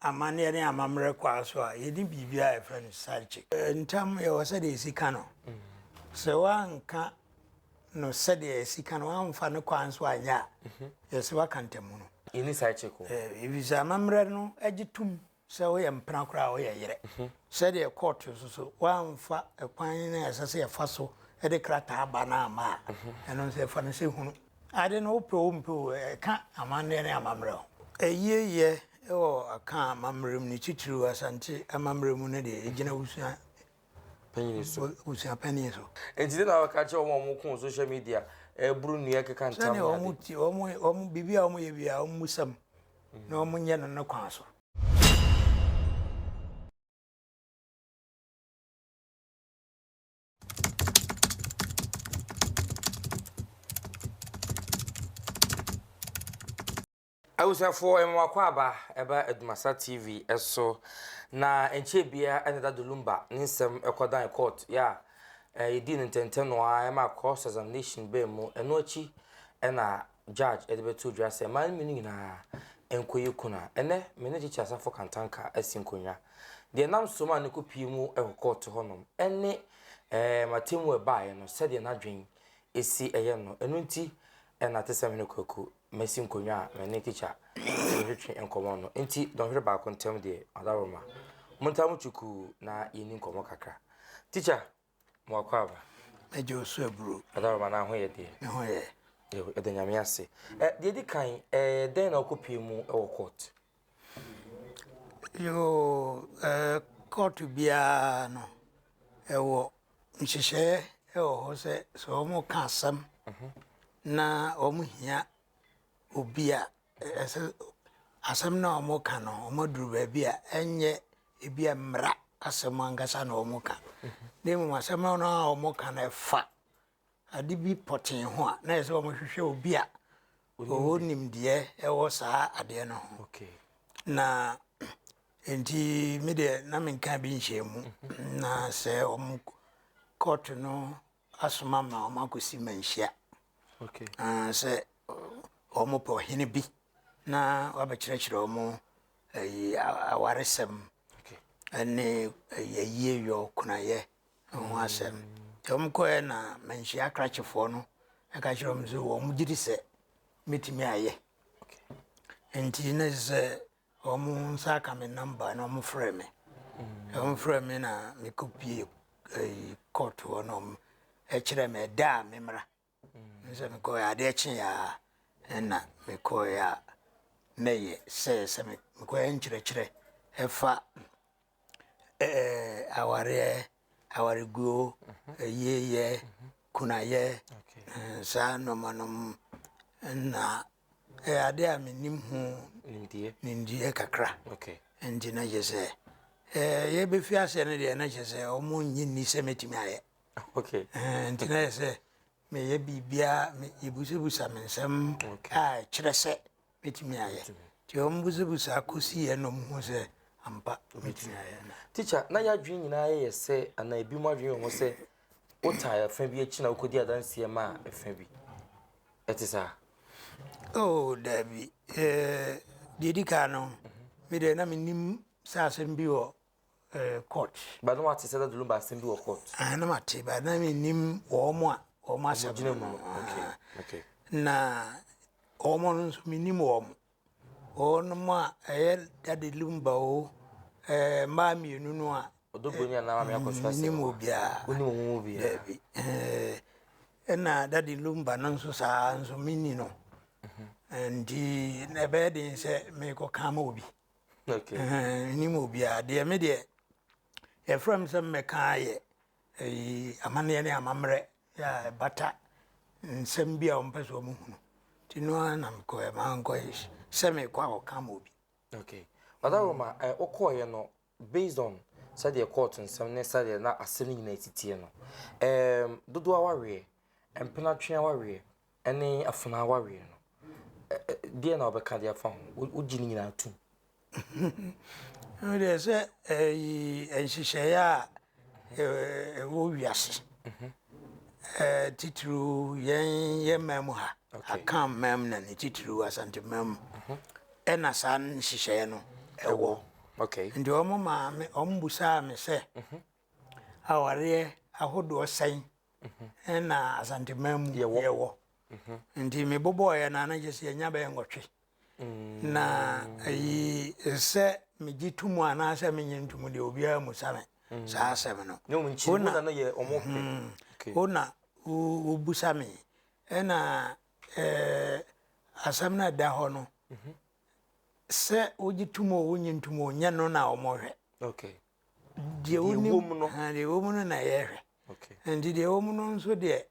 amanneɛ ne amammerɛ kwaa so a, yɛde biribi a yɛfrɛ no psyche. Ntam yɛwɔ sɛdeɛ ɛsi ka no. Sɛ woanka no sɛdeɛ ɛsi ka no, woamfa no kwaa nso anyɛ a, mhm. yɛsɛ woaka ntamu no. Yɛni psyche ko. Ɛfiri sɛ amammerɛ no gye tom sɛ woyɛ mpena koraa a woyɛ yerɛ. Mhm. Sɛdeɛ court nso so, woamfa kwan no a ɛsɛ sɛ yɛfa so de krataa ba no ama a, mhm. ɛno nso yɛfa no sɛ hunu. Ade no wopɛ o wompɛ o, ɛka amanneɛ ne amammerɛ ho. Ayieyɛ wɔ Akaa amammerɛ mu no, titiriw Asante amammerɛ mu no deɛ, ɛgyina abusua panyin so. Abusua panyin so. Enti dɛn na wobɛka akyerɛ wɔn a wɔko social media, boro nnua, keka ntam ne ade? Sɛnea wɔte, wɔn, wɔn, biribi a wɔyɛ biara, wɔmmisa mu, na wɔnyɛ no ne kwan so. Abusuafoɔ ɛma wakɔ aba ɛba Adumasa TV ɛso na nkyɛn bia ɛna da Dolumba ne nsɛm ɛkɔdan court yɛ a ɛdi ne ntɛntɛnoa ɛma cross examination bɛn mu ɛno akyi ɛna Judge de bɛto dwa sɛ mmaa no mmienu nyinaa nkɔyɛ kunu a, ɛnnɛ me ne Gyekye Asafo Kantanka asi nkonnwa. Deɛ nam so maa no kɔpue mu wɔ kɔɔto hɔnom ne ɛɛ m'atemmu a ɛbaeɛ no sɛdeɛ n'adwene si yɛ no. Ɛno nti na Atesamhene Kwaku masi nkonnwa a me ne Tikya retwetwe nkɔmmɔ no. Nti dɔnhwere baako ntam deɛ, Adaworoma, montaa mo kyukuu na yɛnni nkɔmmɔ kakra. Tikya, Mo akwaaba. Agya Osu Aburo. Ada Baba na ho yɛ deɛ. Ne ho yɛ. Yɛda Nyame ase. Ɛ deɛ di kan ɛ dɛn na ɔkɔ pie mu wɔ court? Yoo ɛ court biara no ɛwɔ nhyehyɛɛ ɛwɔ hɔ sɛ sɛ wɔn ka asɛm na wɔn hia obi a Ɛsɛ asɛm no a wɔka no wɔaduru baabi a ɛnyɛ ebi a mmara asɛm ankasa na wɔka na mmom asɛm no a wɔka no ɛfa ade bi pɔtee ho a na ɛsɛ sɛ wɔhwehwɛ obi a ɔwɔ nimdeɛ ɛwɔ saa adeɛ no ho na nti me deɛ na menka bi nhyɛ mu na sɛ wɔn kɔɔto no asoma ma wɔn akɔsi manhyia sɛ wɔpɛ ɔhene bi na wabɛkyerɛkyerɛ wɔn ayi awaresɛm ne ayie yɔ kunayɛ ho asɛm nti wɔn kɔɛ na manhyia akrakyefoɔ no ɛka kyerɛ wɔn sɛ wɔn gye di sɛ mɛtumi ayɛ nti na sɛ Wɔn nsa aka me number na wɔn frɛ me. Wɔn frɛ me na me kɔ pie ɛyi court hɔ na wɔn ɛkyerɛ me ɛda a me mmra. Nsɛ me kɔ yɛ adeɛ kye yɛ a ɛna me kɔ yɛ a mɛyɛ sɛ sɛ me kɔ yɛ nkyerɛkyerɛ ɛfa. awareɛ, awareguo, ayieeɛ, kunayɛ, saa nnoɔma nom na ɛyɛ adeɛ a menim ho nimdeɛ kakra nti na kyerɛ sɛ yɛbɛfiri aseɛ no deɛ na kyerɛ sɛ ɔmo nnye nni sɛ mɛtumi ayɛ nti na yɛ sɛ meyɛ biribiaa yɛbusabusa me nsɛm a ɛkyerɛ sɛ mɛtumi ayɛ nti wɔn busabusaa kɔsii ɛna wɔn hu sɛ ampa mɛtumi ayɛ. Teacher na yɛadwene nyinaa yɛ yɛ sɛ anaa ebi mu adwene ho sɛ wotaa ɛfa bi akyi na wokɔdi adanseɛ ma ɛfa bi ɛte saa. Oh daabi ɛɛ deɛ di kan no me deɛ na menim sɛ asɛm bi wɔ eh, court. Ba na wate sɛ dadulum ba asɛm bi wɔ court. Ah, na mate ba na menim wɔn a wɔn asɛm. Gyina mu. Okay. Ah. Okay. Na wɔn no nso menim wɔn. Wɔn a ɛyɛ dadulum ba o, eh, mmaa mmienu no a. Ɔdɔbɔni a na maame akɔ so asɛm. Menim obiara. Wonim wɔn mu obiara. Dabi. Eh, ɛna dadulum ba no nso saa nso menni no. Mhm. Nti na ɛbɛyɛ den sɛ mekɔka ma obi. nnim obiara deɛ me deɛ yɛfrɛ m sɛ mmɛka ayɛ amanneɛ ne amammerɛ yɛ ɛbata nsɛm bi a wɔmpɛ sɛ wɔn hunu nti no ara na mekɔɛ maa nkɔɛ sɛ mekɔ a wɔka ma obi okay bada roma eh, wokɔɔyɛ no based on sɛdeɛ kɔɔto nsɛm ne sɛdeɛ na asɛm no nyinaa titiɛ no dodoɔ waweɛ mpenatwea waweɛ Ɛne afenaa awareɛ no, deɛ na wɔbɛka de afa ho? Wogye ne nyinaa tom? Deɛ sɛ nhyehyɛeɛ a ɛwɔ wiase mhm. titiriw yɛn yɛ mam ha aka mam na ne titiriw asante mam mhm. ɛna saa nhyehyɛeɛ no ɛwɔ nti wɔn maame wɔn busaa me sɛ mhm. Awareɛ ahodoɔ sɛn na Asanteman mu yɛwɔ? Nti mebobɔeɛ no a na kyerɛ sɛ yɛnya bɛyɛ nwɔtwe. Mm. Na ayi sɛ megye to mu anaasɛ menyɛ nto mu deɛ obiara mu sa me mm. saa asɛm no. Ne wɔn kyiri na no yɛ wɔn pɛ. Mm. Wo na wobusa me ɛna ɛɛ asɛm no ɛda hɔ no mhm. sɛ wogye to mu o wonye nto mu o nyɛ no na wɔhwɛ. Okay. deɛ wonim na deɛ ɛwɔ mu no na yɛhwɛ nti deɛ ɛwɔ mu no nso deɛ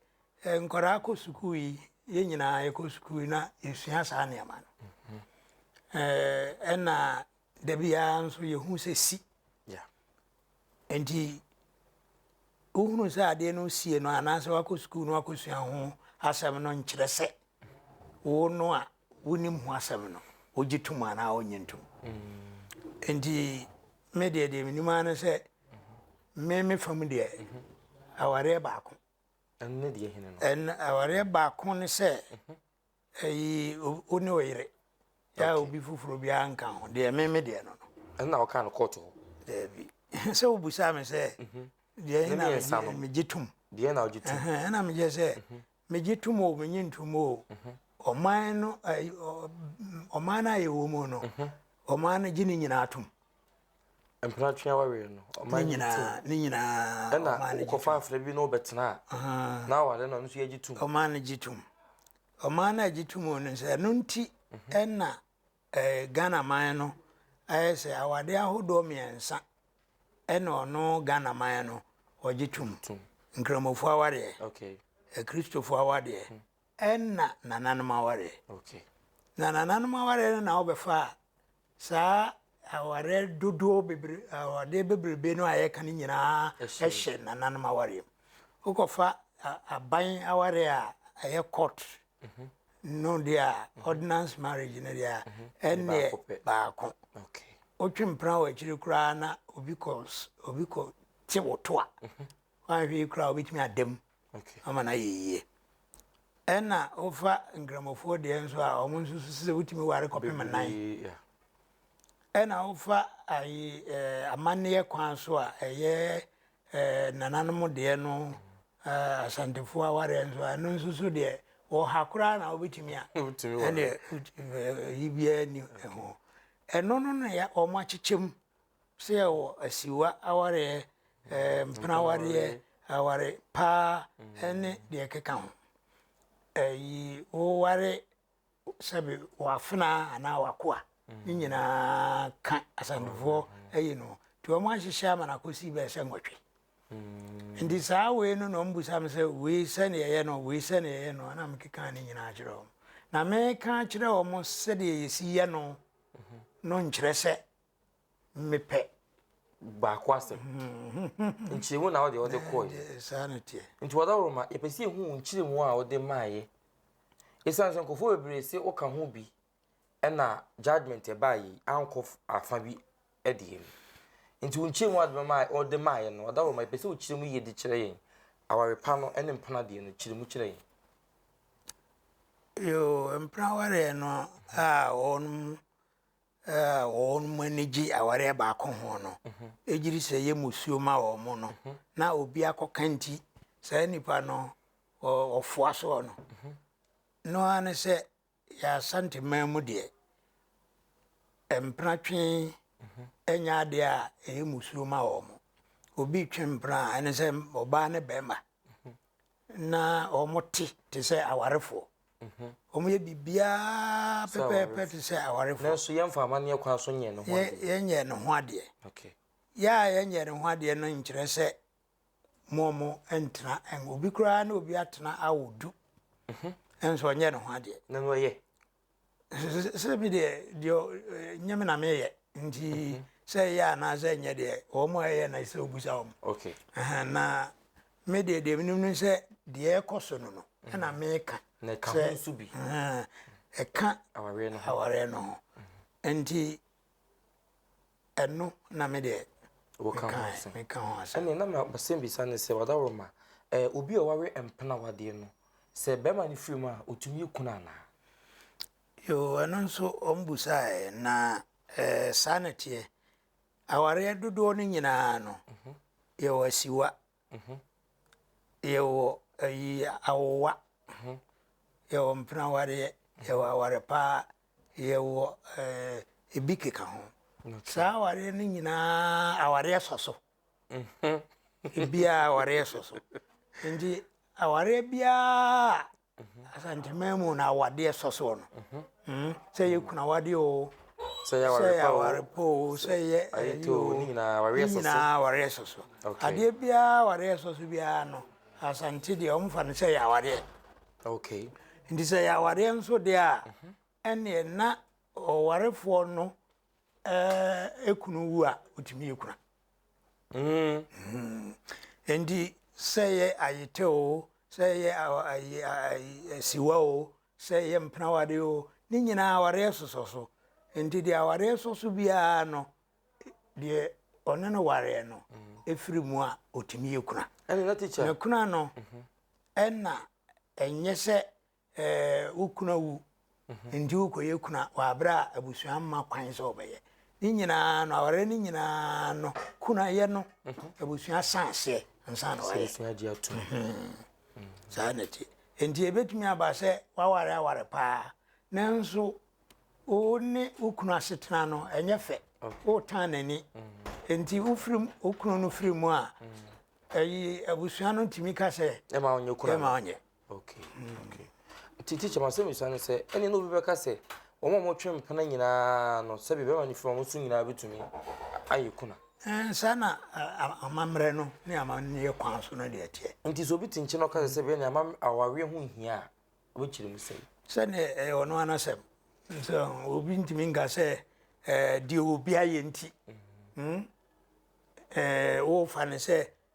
eh, nkwadaa kɔ sukuu yi yɛn nyinaa yɛkɔ sukuu yi na yɛsua saa nneɛma no mhm. eh, ɛna da biara nso yɛhu sɛ si nti wohunu sɛ adeɛ no sie no anaasɛ wakɔ sukuu no wakɔsua ho asɛm no nkyerɛ sɛ wo no a Wonim ho asɛm no, wogye tom anaa wonnye ntom. Enti me deɛ deɛ menim ara ne sɛ me me fam deɛ awareɛ baako. Ɛno deɛ hene no. Ɛn awareɛ baako ne sɛ ɛyi wo ne wo yere. Yɛ obi foforɔ biara nka ho deɛ me me deɛ no no. Ɛno na wɔka no kɔɔto hɔ. Daabi. Sɛ wobusaa me sɛ deɛ na megye tom. Deɛ na wogye tom. Ɛna megyɛ sɛ Megye tom o, menye ntom o, ɔman no ɔman no a yɛwɔ mu no, ɔman no gye ne nyinaa tom. Mpena twea wareɛ no, ɔman gye tom. Ne nyinaa, ɔman no gye tom. Ɛna wokɔfa afena bi na wobɛtena a, na aware no ɔno nso yɛgye tom. Ɔman no gye tom. Ɔman no a gye tom o no sɛ ɛno nti ɛna Ghana man no ayɛ sɛ awadeɛ ahodoɔ mmiɛnsa ɛna ɔno Ghana man no ɔgye tom nkramofo awadeɛ akristofo awadeɛ hmm. ɛna nananom awadeɛ na nananom awadeɛ no na wɔbɛfa saa awadeɛ dodoɔ bebree awadeɛ bebrebe no a yɛka no nyinaa ɛhyɛ nananom awadeɛ mu wokɔfa aban awadeɛ a ɛyɛ court no deɛ a ordinance marriage no deɛ a ɛnneɛ baako wotwe mpena wɔ akyiri koraa na obi kɔ obi kɔ te wo to a wanhwɛ yi koraa wobɛtumi ada mu ama no ayɛ yie ɛna wofa nkramofoɔ deɛ nso a ɔmo nso susu sɛ wotumi ware kɔpem nan ɛna wofa ayi ɛɛ amanneɛ kwan so a ɛyɛ eh, nananom deɛ no eh, asantefoɔ awareɛ nso ɛno nso so deɛ wɔha koraa na wobɛtumi a ɛneɛ yi biara ni ho ɛno no na yɛ wɔn akyekyɛm sɛ yɛwɔ asiwa awareɛ eh, mpena awareɛ aware paa ɛne deɛ ɛkeka ho ɛyi woware sɛbi w'afenaa anaa w'akoa ne nyinaa ka asantefoɔ ayi no nti wɔn ahyehyɛ ama no akɔsi bɛyɛ sɛ nwɔtwe hmm. nti saa wei no na ɔmbusa me sɛ wei sɛdeɛ ɛyɛ no wei sɛdeɛ ɛyɛ no na mekeka ne nyinaa kyerɛ wɔn na meka kyerɛ wɔn sɛdeɛ yɛsi yɛ no no nkyerɛ sɛ mepɛ baako asɛm nkyerɛmu na wode wode kɔɔ yi eh, saa no teɛ nti wɔda woro ma yɛpɛ sɛ yɛhu nkyerɛmu a wode maayɛ ɛsiane sɛ nkurɔfoɔ bebree se woka ho bi ɛna judgment ɛbaa yi ankɔ afa bi ɛdeɛ mu nti wo nkyerɛmu a wode maayɛ no wɔda woro ma yɛpɛ sɛ wo kyerɛmu yie de kyerɛ yɛn aware pa no ne mpena deɛ no kyerɛmu kyerɛ yɛn yo mpena wareɛ no a wɔnom a wɔn ani gye awareɛ baako ho no gyiri sɛ yɛ musuo ma wɔn mo no na obi akɔka nti saa nipa no ɔfoa soɔ no no ara ne sɛ yɛ asanteman mu deɛ mpena twe ɛnyɛ adeɛ a ɛyɛ musuo ma wɔn mo obi twe mpena a ɛne sɛ ɔbaa ne bɛrima na wɔte te sɛ awarefoɔ wɔn yɛ biribiara pɛpɛɛpɛ te sɛ awarefoɔ nanso yɛmfa amanneɛ kwan so nyɛ ne ho adeɛ yɛnyɛ ne ho adeɛ yɛ a yɛnyɛ ne ho adeɛ no nkyerɛ sɛ mo mo ntena obi koraa na obi atena awo du mhm. nso ɔnyɛ ne ho adeɛ na no ɔyɛ sɛ bi deɛ deɛ nyɛ me na meyɛ nti mhm. sɛ ɛyɛ anaasɛ nyɛ deɛ wɔn a ɛyɛ na ɛsɛ obusa wɔn okay na me deɛ deɛ menim no sɛ deɛ ɛkɔ so no no mhm. ɛna meka na ɛka ho nso bi ɛka awareɛ no ho nti Ɛno na me deɛ meka ho asɛm. Ɛne na ma basɛm bisa ne sɛ ɔdaworoma ɛɛ obi a ɔware mpena wadeɛ no sɛ bɛrima no firi mu a ɔtumi yɛ kunu anaa? Yoo ɛno nso wɔn busaeɛ na ɛɛ saa na teɛ. Awareɛ dodoɔ no nyinaa no mhm. yɛwɔ asiwa Mhm. Yɛwɔ ayi awowa. Mhm. Yɛwɔ mpena wareɛ. Yɛwɔ aware paa. Yɛwɔ eh, ebi keka ho. Saa awareɛ no nyinaa awareɛ sɔ so. Mhm. Ebiara awareɛ sɔ so. Nti awareɛ biara Asantehene mu na awadeɛ sɔ soɔ no. Mm, sɛ yɛ kunu awadeɛ o. Sɛ yɛ aware pa o. Sɛ yɛ aware pa o. Sɛ yɛ ayɛ o. Ne nyinaa awareɛ sɔ so. Ne nyinaa awareɛ sɔ so. Adeɛ biara awareɛ sɔ so biara no, asante deɛ wɔn fa no sɛ yɛ awareɛ. Okay. Nti sɛ yɛ awareɛ nso deɛ a, ɛnneɛ na ɔwarefoɔ no ɛɛ ekunu wu a otumi yɛ kura mm. mm. nti sɛ yɛ ayete o sɛ yɛ asiwa o sɛ yɛ mpenawadeɛ o ne nyinaa awareɛ sosɔ so nti deɛ awareɛ sɔ so biara no deɛ ɔne no wareɛ no ɛfiri mu a ɔtumi yɛ kuna na kuna no mhm. ɛna ɛnyɛ sɛ Ɛɛ, wo kunu awu, enti worekɔyɛ kunu wɔ abere a abusua mma kwan sɛ wɔbɛyɛ. Ne nyinaa no, awareɛ no nyinaa no, kunu ayɛ no, abusua san aseɛ ansa na wayɛ. Abusua gye atum. Saa na ɛte. Enti ebetumi aba sɛ waware aware paa, nanso wo ne wo kunu asetena no ɛnyɛ fɛ. Wotan n'ani. Enti wofiri wo kunu no firi mu a, ɛyi abusua no tumi ka sɛ. Ɛma ɔnyɛ kunu. Ɛma ɔnyɛ. Okay, mm. okay. Ti teacher ma sɛ misa no sɛ ɛne na obi bɛka sɛ wɔn a wɔtwe mpena nyinaa no sɛbi bɛrima ne firi wɔn so nyinaa bɛtumi ayɛ kuna. Eh, saa na amammerɛ no ne amanneɛ kwan so no deɛ teɛ. Nti sɛ obi te nkyɛn na ɔka sɛ sɛbi ɛne ama awareɛ ho nhia a ɔbɛkyerɛ mu sɛi. Sɛdeɛ ɛyɛ ɔno anasɛm nso obi ntumi nka sɛ eh, deɛ obi ayɛ nti mm. hmm? eh, wofa no sɛ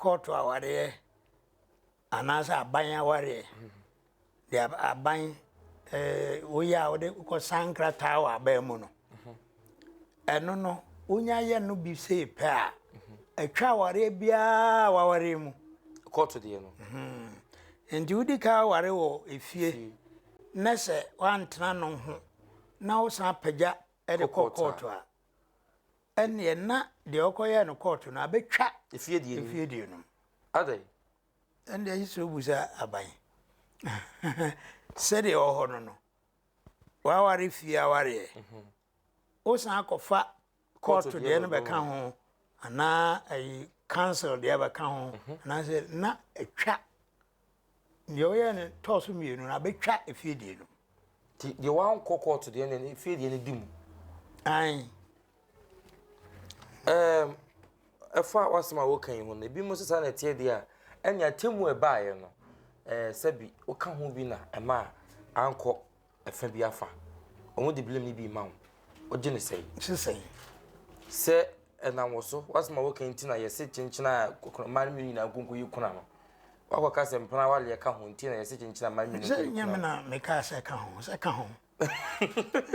Kɔɔto awareɛ anaasɛ aban awareɛ deɛ aban eh, woyɛ a wode kɔsan nkrataa wɔ aban mu no ɛno no wonya yɛ no bi sei pɛ a atwa awareɛ biara wawareɛ mu kɔɔto deɛ no hmm. nti wodi ka aware wɔ efie na sɛ woantena no ho na wosan apagya de kɔ kɔɔto a Ɛnneɛ na deɛ ɔkɔyɛɛ no kɔɔto no abɛtwa efie deɛ no mu. Adɛn? Ɛnneɛ ayi sɛ obu sɛ aban. Sɛdeɛ ɛwɔ hɔ no no, w'aware fie awareɛ. Mhm. Wosan akɔfa kɔɔto deɛ no bɛka ho anaa ayi council deɛ bɛka ho mhm. anaasɛ na atwa Deɛ ɔyɛɛ no tɔɔ so mmienu no abɛtwa efie deɛ no. Ti deɛ wankɔ kɔɔto deɛ no efie deɛ no di mu. Ayi. Ɛɛm ɛfa wasɛm a wɔka yi ho no ebi mu sisa na ɛteɛ deɛ a ɛne atemu ɛbaeɛ no ɛɛ sɛbi woka ho bi na ɛma ankɔ Ɛfã bi afa. Ɔmo de blame no bi ma wo. Wogye no sɛn? Gye no sɛn? Sɛ ɛnam wo so, w'asɛm a woka yi nti na yɛse kyenkyena a kɔkɔnɔ mmaa no mmienu nyinaa nko nkoyi kuna no. Woakɔka sɛ mpena awaleɛ ka ho nti na yɛse kyenkyena mmaa no mmienu nkoyi kuna no. Sɛ nyɛ me na mekaa sɛ ɛka ho, sɛ ɛka ho.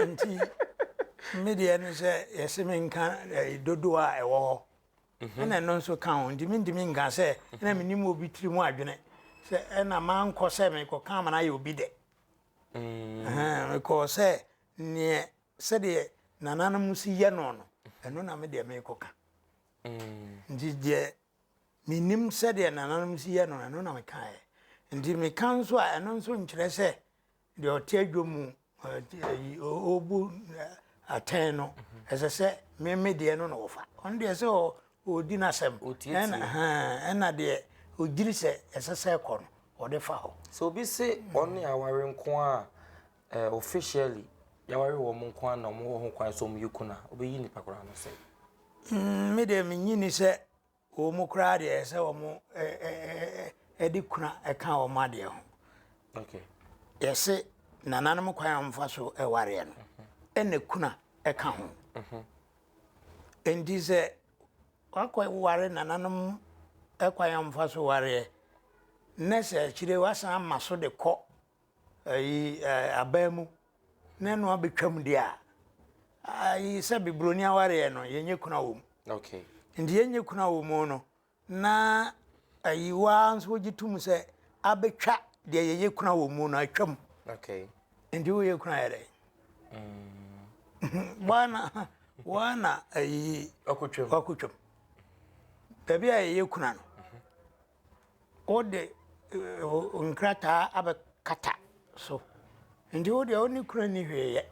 Nti me deɛ no sɛ yɛse menka dodoɔ a ɛwɔ hɔ ɛna ɛno nso ka ho nti mentumi nka sɛ ɛna menim obi tiri mu adwene sɛ ɛna mankɔ sɛ mekɔka ama no ayɛ obi dɛ. Mm. Mekɔɔ sɛ neɛ sɛdeɛ nananom si yɛ no no ɛno na me deɛ mekɔka mm. nti deɛ menim sɛdeɛ nananom si yɛ no ɛno na mekaeɛ nti meka nso a ɛno nso nkyerɛ sɛ deɛ ɔte adwa mu ɔbu atɛn no ɛsɛ sɛ meme deɛ no na wɔfa ɔno deɛ sɛ Ɔdi n'asɛm. Ɔtie tie. Ɛna deɛ ɔgyiri sɛ ɛsɛ sɛ ɛkɔ no, ɔde fa hɔ. Sɛ obi se ɔne aware nko ara a, eh, officially, yɛaware wɔn nko ara na wɔn wɔ ho kwan sɛ wɔn yɛ kun a, ɔbɛyi nipa koraa no sɛ. Mm, me deɛ menyi ni sɛ wɔn koraa deɛ ɛsɛ sɛ wɔn eh, eh, eh, eh, ɛde kuna ɛka wɔn adeɛ ho. Okay. Yɛse nananom kwan a wɔfa so ɛwareɛ no, ɛna kuna ɛka ho. Enti sɛ wakɔ ware nananom kwan a wɔfa so wareɛ na sɛ akyire wasan ama so de kɔ ayi abaa mu na ɛno abɛtwam deɛ a ayi sɛ bibroni awareɛ no yɛnyɛ kuna wɔ mu. Okay. Nti yɛnyɛ kuna wɔ mu no Na ayi wo ara nso wogye tom sɛ abɛtwa deɛ yɛyɛ kuna wɔ mu no atwam. Okay. Nti woyɛ kuna yɛ dɛn? Mm. Wana wana ayi wakotwam. Wakotwam. Baabi a yɛyɛ kuna no. Mhm. Wode eh, nkrataa abɛkata so. Nti wo deɛ wo ne kuna ni hwee yɛ.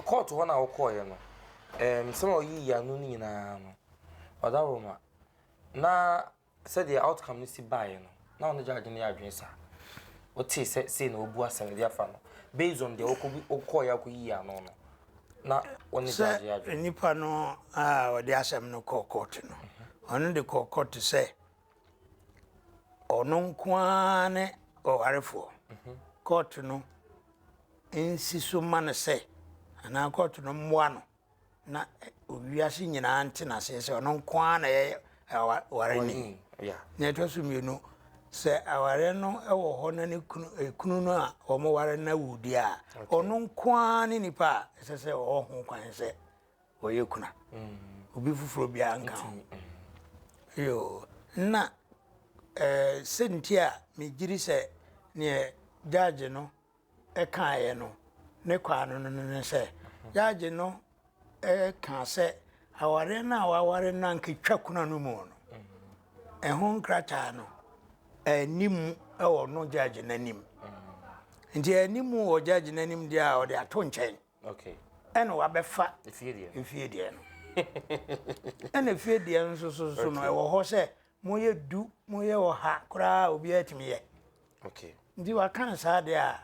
kɔɔto hɔ no a wokɔɔeɛ no nsɛm a ɔyii ano no nyinaa no ɔda roma na sɛdeɛ outcome no si baeɛ no na ɔno gyaagye no yɛ adwene saa wotee sɛ sei na wɔbu asɛm de afa no based on deɛ wokɔɔeɛ akɔyii ano no na ɔne gyaagye yɛ adwene nipa no a ɔde asɛm no kɔɔ kɔɔto no ɔno de kɔɔ kɔɔto sɛ Ɔno nko ara ne ɔwarefoɔ. Kɔɔto no nsi so mma no sɛ anaa kɔɔto no mmoa no na wiase nyinaa nte n'aseɛ sɛ ɔno nko ara na ɛyɛ aware ni. Na ɛtɔ so mmienu sɛ aware no wɔ hɔ na ne kunu ekunu no a wɔn ware no awu deɛ a ɔno nko ara ne nipa a ɛsɛ sɛ ɔwɔ ho kwan sɛ Wɔyɛ kuna. Obi foforɔ biara nka ho. Yoo, na eh, sɛnti a megyiri sɛ neɛ gyagye no kaeɛ no ne kɔ ano no ne sɛ, gyagye no ka sɛ awareɛ no a waware no ankatwa kuna no mu no, ɛho nkrataa no anni mu wɔ no gyagye no anim. Nti anni mu wɔ gyagye no anim deɛ a ɔde ato nkyɛn. Okay. Ɛna wabɛfa. Efie deɛ. Efie deɛ no. Ɛna efie deɛ no nso so no ɛwɔ hɔ sɛ mo yɛ du mo yɛ ɔha koraa obiara tumi yɛ. Okay. Nti waka no saa deɛ a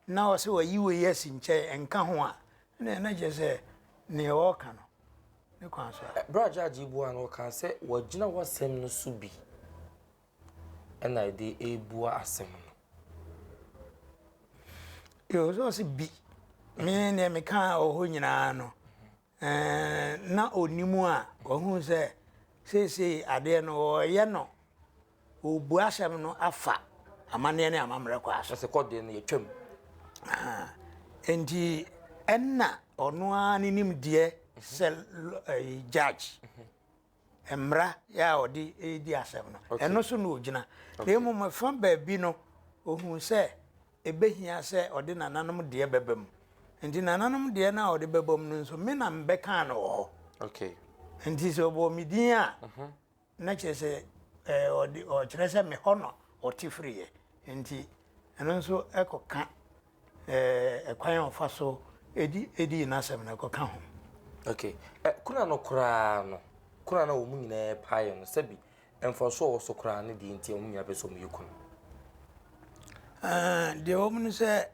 na ɔsɛ wayi wɔ yi asi nkyɛn nka ho a ɛna ɛna kyerɛ sɛ nea ɔka no ne kwan so a. Bra judge yi bu a no ɔka sɛ wɔgyina w'asɛm no so bi. na ɛde rebua asɛm no. Yɛwɔ sɛ bi me deɛ mekaa wɔ hɔ nyinaa no na ɔnim a wahu sɛ seesei adeɛ no wɔyɛ no wɔbu asɛm no afa amanneɛ ne amammerɛ kɔ aso sɛ kɔdeɛ no yɛtwam nti ɛnna ɔno ara ne nimdeɛ sɛ judge mmara a ɔde redi asɛm no, ɛno so na ɔgyina. Na mmom fa baabi no, ɔhuu sɛ ɛbɛhia sɛ ɔde nananom deɛ bɛba mu. Nti nananom deɛ no a ɔde bɛba mu no nso, me na mebɛkaa no wɔ hɔ. Nti sɛ ɔbɔɔ me din a, mhm. na kyerɛ sɛ ɔkyerɛ sɛ me hɔ no ɔte firiiɛ. Nti ɛno nso ɛkɔka ɛɛ kwan a ɔfa so di di n'asɛm no ɛkɔka ho. Okay, ɛ kuna no koraa no, kuna no a wɔn nyinaa paeɛ no sɛbi mfaso a ɔwɔ so koraa ne deɛ nti a wɔn nyinaa pɛ sɛ wɔn yɛ kunu. Ah, deɛ wɔn no sɛ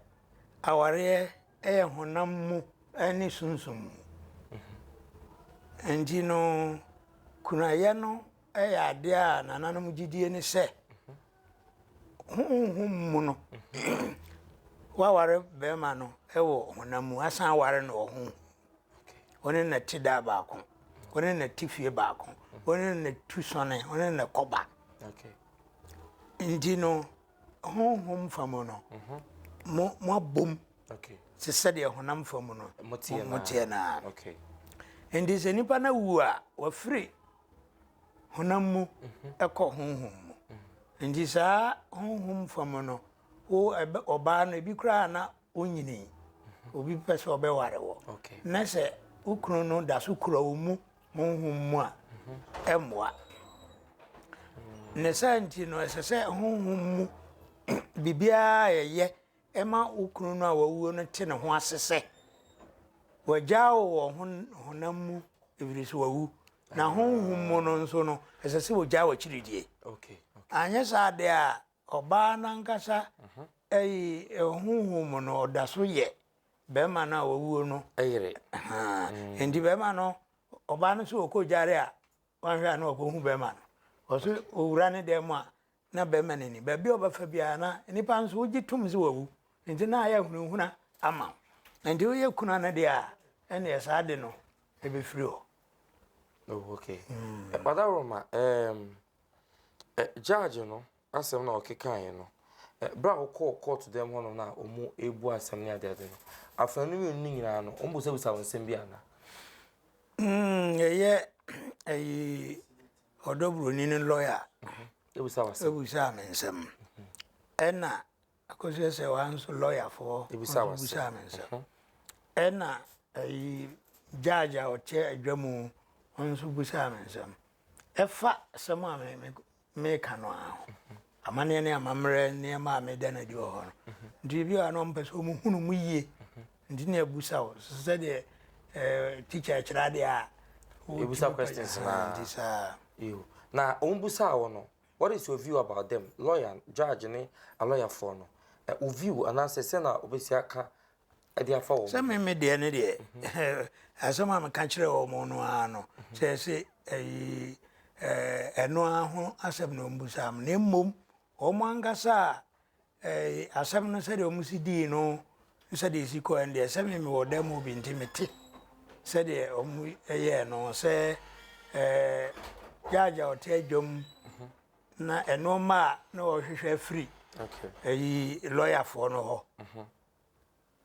awareɛ ɛyɛ honam mu ɛne sunsum mu. Nti no kunayɛ no ɛyɛ adeɛ a nananom gyidie ne sɛ. Honhom mu no, woaware bɛrima no wɔ honam mu, asan aware no wɔ honhom mu. Wo ne no te da baako, wo ne no te fie baako, wo ne no tu sɔne, wo ne no kɔba. Nti no, honhom fa mu no, mo moabom te sɛdeɛ honam fa mu no moteɛ naa. Nti sɛ nipa no awu a, wafiri honam mu kɔ honhom mu. Nti saa honhom fam no, wo ɔbaa no ebi koraa na onyini, obi pɛ sɛ ɔbɛware wɔ. Na sɛ wo kunu no da so kura wo mu honhom mu a, ɛmmoa. Ne saa nti no, ɛsɛ sɛ honhom mu biribiara a yɛyɛ Ɛma wo kunu no a wawuo no te ne ho ase sɛ, wagyaa wo wɔ honam mu ɛfiri sɛ wawu, na honhom mu no nso no, ɛsɛ sɛ ɔgyaa w'akyiridie. Anyɛ saa deɛ a, ɔbaa no ankasa ayi honhom mu no, ɔda so yɛ bɛrima no a wawuo no yere. Enti bɛrima no, ɔbaa no sɛ ɔkɔ gyare a, wanhwɛ a na wakɔhu bɛrima no. Ɔsɛ ɔwura ne dan mu a, na barima no ani. Baabi a ɔbɛfa biara, na nnipa nso wogye tom sɛ wawu. Enti na ayɛ ahunahuna ama wo. Enti woyɛ kunu a na deɛ a, ɛnneɛ saa ade no bɛfiri hɔ. Oh, okay. Mm. Ɔda Roma, um, judge no asɛm na ɔkekaeɛ no, berɛ a wokɔɔ kɔɔto dɛm hɔ no na ɔmu ɛbu asɛm ne adeade no, afena no mmienu no nyinaa no, ɔmbusabisa wo nsɛm bi ana? Mm, ɛyɛ ɛyi Ɔdɔ buroni no lɔya bisaa me nsɛm, ɛna Akosua Sɛwaa nso lɔyafoɔ nso bisaa me nsɛm, ɛna ayi judge a ɔkyɛ adwa mu nso bisaa me nsɛm. Ɛfa asɛm a me me meka no ara ho, amanneɛ ne amammerɛ nneɛma a meda no adi wɔ hɔ no. Nti ebi wɔ hɔ a na wɔmpɛ sɛ wɔhunu mu yie. Nti na yɛbusa wo sɛdeɛ eh, teacher ɛkyerɛ adeɛ a Yɛbusa questions na Nti saa Yo, na wɔn busaa wo no What is your view about them, lawyer, judge ne alɔyafoɔ no eh, Wo view anaasɛ sɛ na wobɛsi aka de afa wɔn ho Sɛ me me deɛ ne deɛ eh, asɛm a meka kyerɛ wɔn no ara no Sɛ ɛse ɛyi eh, ɛno ara ho asɛm na wɔn busaa me Na mmom wɔn ankasa a Ɛɛ asɛm no sɛdeɛ wɔn si dii no ne sɛdeɛ ɛsi kɔɛ no deɛ, sɛ me mewɔ dan mu bi nti mete sɛdeɛ wɔn yɛɛ no sɛ ɛɛ gyaagye a ɔte adwam mhm. na ɛnoɔma a na ɔhwehwɛ afiri ɛyi lɔyafoɔ no hɔ. Mhm.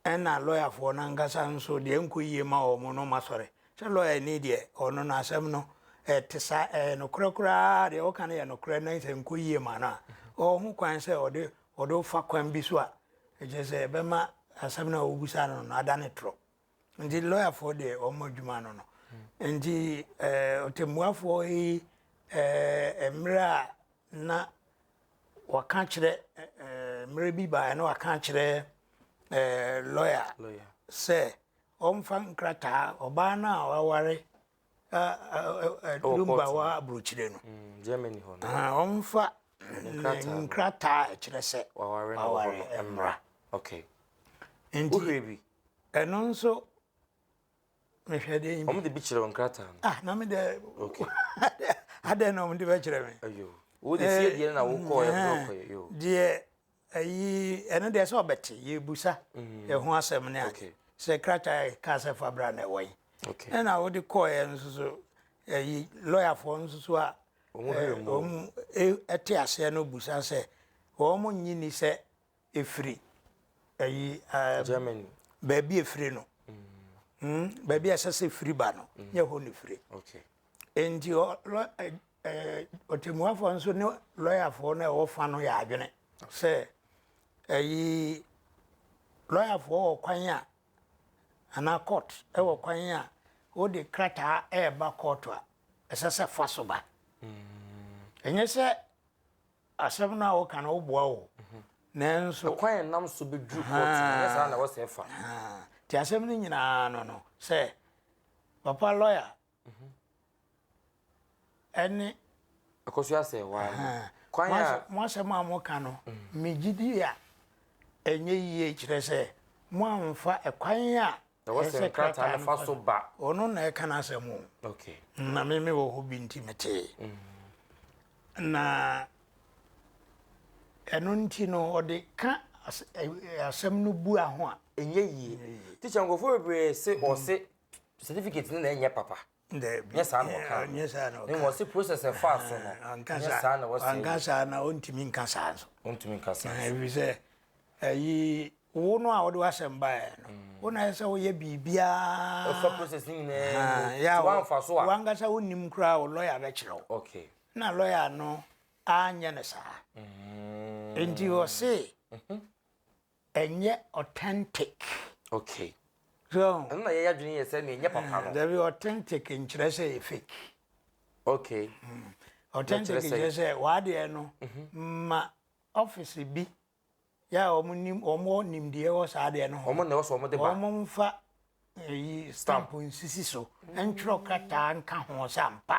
Ɛna lɔyafoɔ no ankasa nso deɛ ɛnkɔ yie ma wɔn no wɔasɔre. Sɛ lɔyani deɛ ɔno no asɛm no ɛte saa, ɛyɛ nokorɛ koraa deɛ woka no yɛ nokorɛ na sɛ ɛnkɔ yie ma no a, ɔwɔ ho kwan sɛ ɔde ɔde wo fa kwan bi so a ɛkyerɛ sɛ ɛbɛma asɛm no a wobisa no no adane torɔ. Nti lɔyafoɔ deɛ wɔn adwuma no no. Nti ɛɛ ɔtɛmmuafoɔ yi ɛɛ mmerɛ a na wɔaka akyerɛ mmerɛ bi baeɛ na wɔaka akyerɛ lɔya sɛ ɔmfa nkrataa ɔbaa no a waware lumba wɔ aburokyire no ɔmfa nkrataa ɛkyerɛ sɛ waware mmra nti ɛno nso mehwɛ deɛ yi bi. wɔn de bi kyerɛw nkrataa no. ah na mi dɛ. okay adɛ na wɔn de bɛ kyerɛ mi. ayo wo de fie deɛ na wo kɔɔ yɛ fɔ kɔ yɛ yo. deɛ ayi ɛno deɛ sɛ ɔbɛte yɛ ebusa ɛho asɛm ne ade sɛ krataa yɛ kaa sɛ fabra na ɛwɔ yi ɛna wo de kɔɔ yɛ nso so ayi lɔyafoɔ nso so a wɔn ɛte aseɛ no busa sɛ wɔn nyi ni sɛ. ɛfiri ayi Germany baabi ɛfiri no mm. baabi a ɛsɛ sɛ firi ba no mm. nyɛ hɔ ne firi okay. nti ɔtɛmuafoɔ nso ne lɔyafoɔ no ɛwɔ fa no yɛ adwene sɛ ayi lɔyafoɔ wɔ kwan a anaa court ɛwɔ kwan a wode krataa ɛreba court a ɛsɛ sɛ fa so ba ɛnyɛ sɛ Asɛm no a woka no woboa o nanso. Ɛkwan a ɛnam so bɛduru kɔɔto no ɛnyɛ saa na ɛwɔ sɛ ɛfa. Nti asɛm no nyinaa no no sɛ papa lɔya ɛne. Ɛkɔ so yɛ sɛ waa no. Kwan a. Mo asɛm a moka no megye di a ɛnyɛ yie kyerɛ sɛ moamfa ɛkwan a Na wɔ sɛ nkrataa no fa so ba. Ɔno na ɛka n'asɛm o. Okay. Na me me wɔ hɔ bi nti me tee. Mm. Na ɛno nti no ɔde ka asɛm no bu aho a. Ɛnyɛ yie. Teacher nkurɔfoɔ bebree se ɔse certificate no na ɛnyɛ papa. Dabi. Nyɛ saa na ɔkaa no. Nyɛ saa na ɔkaa. Ne wɔn se process a ɛfaa so no. Ɔnka saa. Nyɛ saa na wɔsɛ. Wanka saa na ɔntumi nka saa nso. Ɔntumi nka saa nso. Ɛfiri sɛ ɛyi wo no a wɔde w'asɛm baeɛ no. Wo na ɛsɛ sɛ woyɛ biribiara. Ɛfa process ne nyinaa mu. Sɛ wɔamfa so a. Wankasa wonim koraa wo lɔya bɛkyerɛ wo. Okay. Na lɔya no anyɛ no saa. Nti ɔse. Ɛnyɛ authentic. Okay. So ahu. Ɛno na yɛyɛ adwene yɛ sɛ nea ɛnyɛ papa no. Dabi, authentic nkyerɛ sɛ ɛyɛ fake. Okay. Mm. Authentic nkyerɛ sɛ w'adeɛ no mhm. ma office bi yɛ a wɔn nim wɔn nimdeɛ wɔ saa adeɛ no ho. Wɔn na ɛwɔ so wɔn de ba. Wɔn mfa eyi eh, stamp nsisi so ntwerɛ krataa nka ho sɛ ampa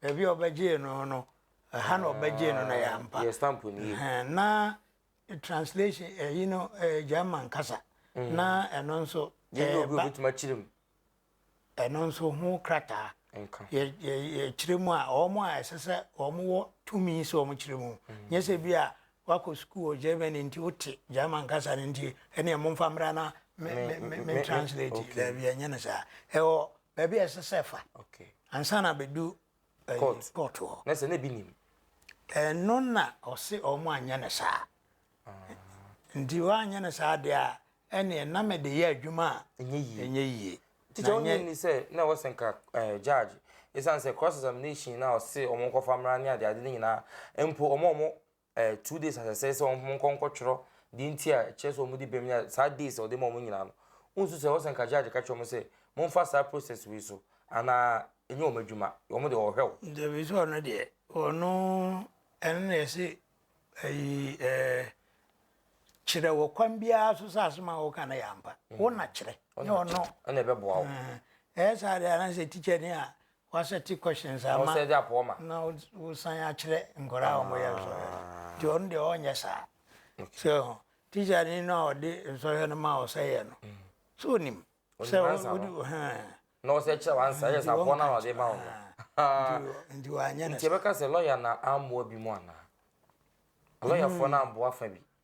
baabi a ɔbɛgyee no no ɛha na ɔbɛgyee no na yɛ ampa. Yɛ stamp ni. Na translation ɛyi eh, no ɛyɛ eh, German kasa mm. na ɛno nso ɛba obi obetumi akyerɛ mu ɛno nso ho krataa yɛkyerɛ mu a wɔn a ɛsɛ sɛ wɔn wɔ tumi sɛ wɔn kyerɛ mu mm. nyɛ sɛ bi a wakɔ sukuu wɔ Germany nti wote German kasa no nti ɛne ɛmo nfa mmra na me translate daabi ɛnyɛ no saa ɛwɔ baabi a ɛsɛ sɛ fa ansa na bɛdu court court hɔ. Na sɛ na ebi nim. Ɛno na ɔse wɔn anyɛ no saa. Nti wɔanyɛ no saa deɛ a, ɛneɛ na mede yɛ adwuma a ɛnyɛ yie. Ɛnyɛ yie. Teacher wonye nni sɛ na ɛwɔ sɛ nka eh, judge ɛsiane sɛ cross examination na ɔse wɔn nkɔfa mmra ne adeade no nyinaa mpo wɔn a wɔn eh, two days asɛsɛ sɛ wɔn nkɔ nkɔtwerɛ deɛ nti a ɛkyerɛ sɛ wɔn de bɛm nyinaa saa days a wɔde ma wɔn nyinaa no nsu sɛ wɔsɛ nka judge ka kyerɛ wɔn sɛ momfa saa process wei so anaa ɛnyɛ wɔn adwuma wɔn de wɔhwɛ wo. dabi sɛ ɔno deɛ ɔno ɛno na ɛsɛ ɛyi ɛɛ kyerɛ wɔ kwan biara so sɛ asɛm a wɔka no yɛ ampa mm. wo na kyerɛ ne ɔno ɛna ɛbɛboa wo ɛyɛ saa deɛ anaasɛ tikya ni a W'asɛte questions ama Ɔsɛ dza pɔ ma. na wosan akyerɛ nkɔraa a wɔyɛ nsɔhwɛ no ntsi ɔno deɛ ɔnyɛ saa. So ehu? Teacherni no a ɔde nsɔhwɛ no maa wo sɛ yɛ no, so onim sɛ Onim ansa no. wode hɛn? Na ɔsɛ kyerɛ wo ansa, yes, aboa no a na ɔde ma wo no. Nti nti wanyɛ no Nti saa. yɛbɛka sɛ lɔya na amboa binom anaa? Lɔyafoɔ no amboa fa bi.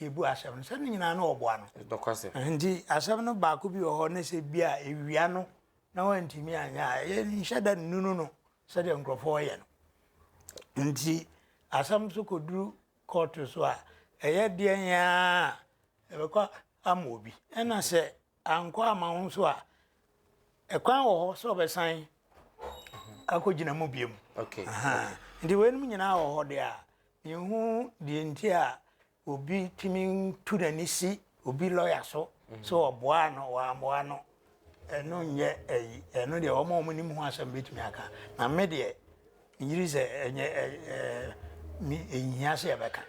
Yɛbu asɛm no sɛ ne nyinaa na ɔboa no. Nokwasɛm. Nti asɛm no baako bi wɔ hɔ ne sɛ bi a ɛwia no na wantumi anyɛ a, yɛnhyɛ da nnunu no sɛdeɛ nkurɔfoɔ yɛ no. Nti asɛm so kɔduru kɔɔto so a, ɛyɛ deɛn ara a, yɛbɛkɔ ama obi. Ɛna sɛ Ankɔ amma ho nso a, ɛkwan wɔ hɔ sɛ ɔbɛsan akɔgyina mu biom. Nti weinom nyinaa wɔ hɔ deɛ a, menhu deɛ nti a obi tumi tu n'ani si obi lɔya so sɛ ɔboa no wɔammoa no ɛno nyɛ ɛyi ɛno deɛ wɔn a wɔnim ho asɛm bɛtumi aka na me deɛ Ngyiri sɛ ɛnyɛ me nhia sɛ yɛbɛka.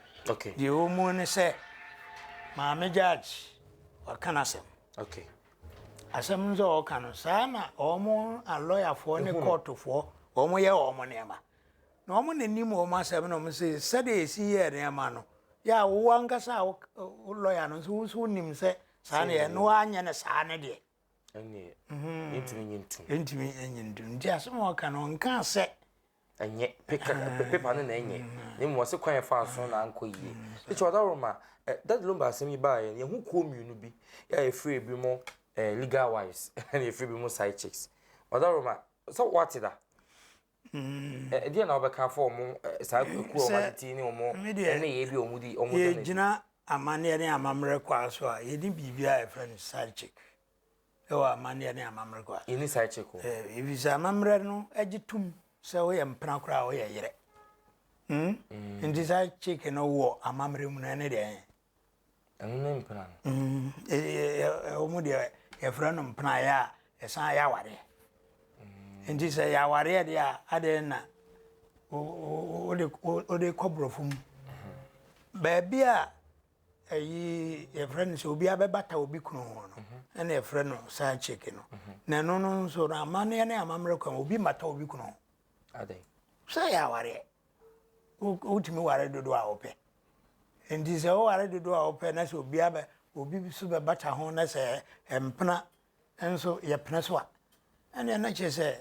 Deɛ ɛwɔ mu ne sɛ Maame Judge waka n'asɛm. Asɛm no sɛ ɔka no saa na wɔn alɔyafoɔ ne kɔɔtofoɔ wɔn yɛ wɔn nneɛma. Na wɔn na nim wɔn asɛm na wɔn sɛ sɛdeɛ esi yɛ nneɛma no yɛ a wo ankasa a wo lɔya no nso wo nso wonim sɛ saa na yɛ na wɔanyɛ no saa ne deɛ. ɛnneɛ mhm. ɛntumi nye ntom ɛntumi nye ntom nti asɛm a ɔka no ɔnka sɛ ɛnyɛ pepa ah. no na ɛnyɛ mm. na mmom ɔse kwan ɛfa so na ankɔ yie ɛkyɛ mm. ɔda woroma eh, dade lomba asɛm yi baeɛ yɛho kuo mmienu bi yɛ ɛfiri bi mu eh, legal wise ɛne ɛfiri bi mu side chicks ɔda woroma sɛ woate da Ɛdeɛn na wobɛka afa wɔn saa akuo a wɔn atete ne wɔn nneyɛɛ bi a wɔn di wɔn da no adi? Yɛgyina amanneɛ ne amammerɛ kwaa so a, yɛne biribiara a yɛfrɛ no side chick ɛwɔ amanneɛ ne amammerɛ kwaa. Yɛne side chick o. Efisɛ amammerɛ no gye tom sɛ woyɛ mpena koraa a woyɛ yerɛ. Hmm? Mm. Nti side chick no wɔ amammerɛ mu no ɛne deɛ Ɛno ne mpena no. Mm, ɛwɔ mu deɛ yɛfrɛ no mpena a ɛyɛ a ɛsan yɛ awareɛ. Mm. Nti sɛ yɛ awareɛ deɛ a adeɛ na wode kɔ borɔfo mu. Mm-hmm. Baabi a ɛyi yɛfrɛ no sɛ obi abɛbata obi kunu ho no mm-hmm. ɛna yɛfrɛ no saa kyeke no. Mm-hmm. Na ɛno no nso no amanneɛ ne amammerɛ kwan obi mmata obi kunu ho. Sɛ yɛ awareɛ. Wotumi ware dodoɔ a wopɛ. Nti sɛ woware dodoɔ a wopɛ na sɛ obiara bɛ obi nso bɛbata ho na sɛ mpena nso yɛpene so a, ɛnneɛ na kyerɛ sɛ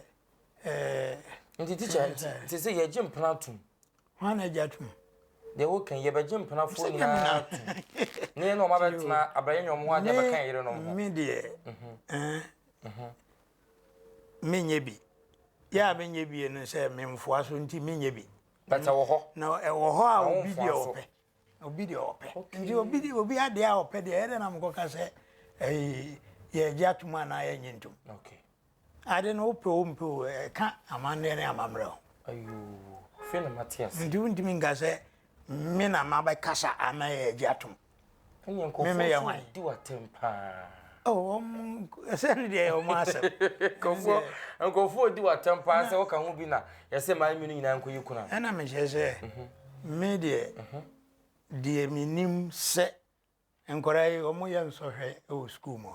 ɛɛ. Nti tikya nti nti sɛ yɛgye mpena atom. Hwan na agye atom? Deɛ woka yi yɛbɛgye mpenafoɔ nyinaa atom na yɛne wɔn abɛtena abrɛyɛ nyɔm ho adeɛ abɛka yɛn yerenom ho. Me deɛ ɛɛ. menyɛ bi. Yɛ a menyɛ bi no sɛ memfoa so nti menyɛ bi. But ɛwɔ hɔ. Na ɛwɔ hɔ a obi deɛ ɔpɛ. Obi deɛ ɔpɛ. Nti obi deɛ obi adeɛ a ɔpɛ deɛ ɛdɛ na mekɔka sɛ ɛyi yɛ gye atum anaa yɛ nye ntum. Okay. Ade no wopɛ o mpɛ o ɛka amanneɛ ne amammerɛ o. Ayoo. Fei na mate ase. Nti wontumi nka sɛ me na mabɛkasa ama yɛ gye atum. me meyɛ hwan di watem paa ɛsɛ ne deɛ ɔmo asɛm nkɔfoɔ nkɔfoɔ ɔdi watam paa sɛ woka ho bi na yɛsɛ maa mi no nyinaa nkɔ yi kuna ɛna mehyɛ sɛ mhm. me deɛ mhm. deɛ menim sɛ nkɔra yi ɔmo yɛ nsɔhwɛ wɔ sukuu mu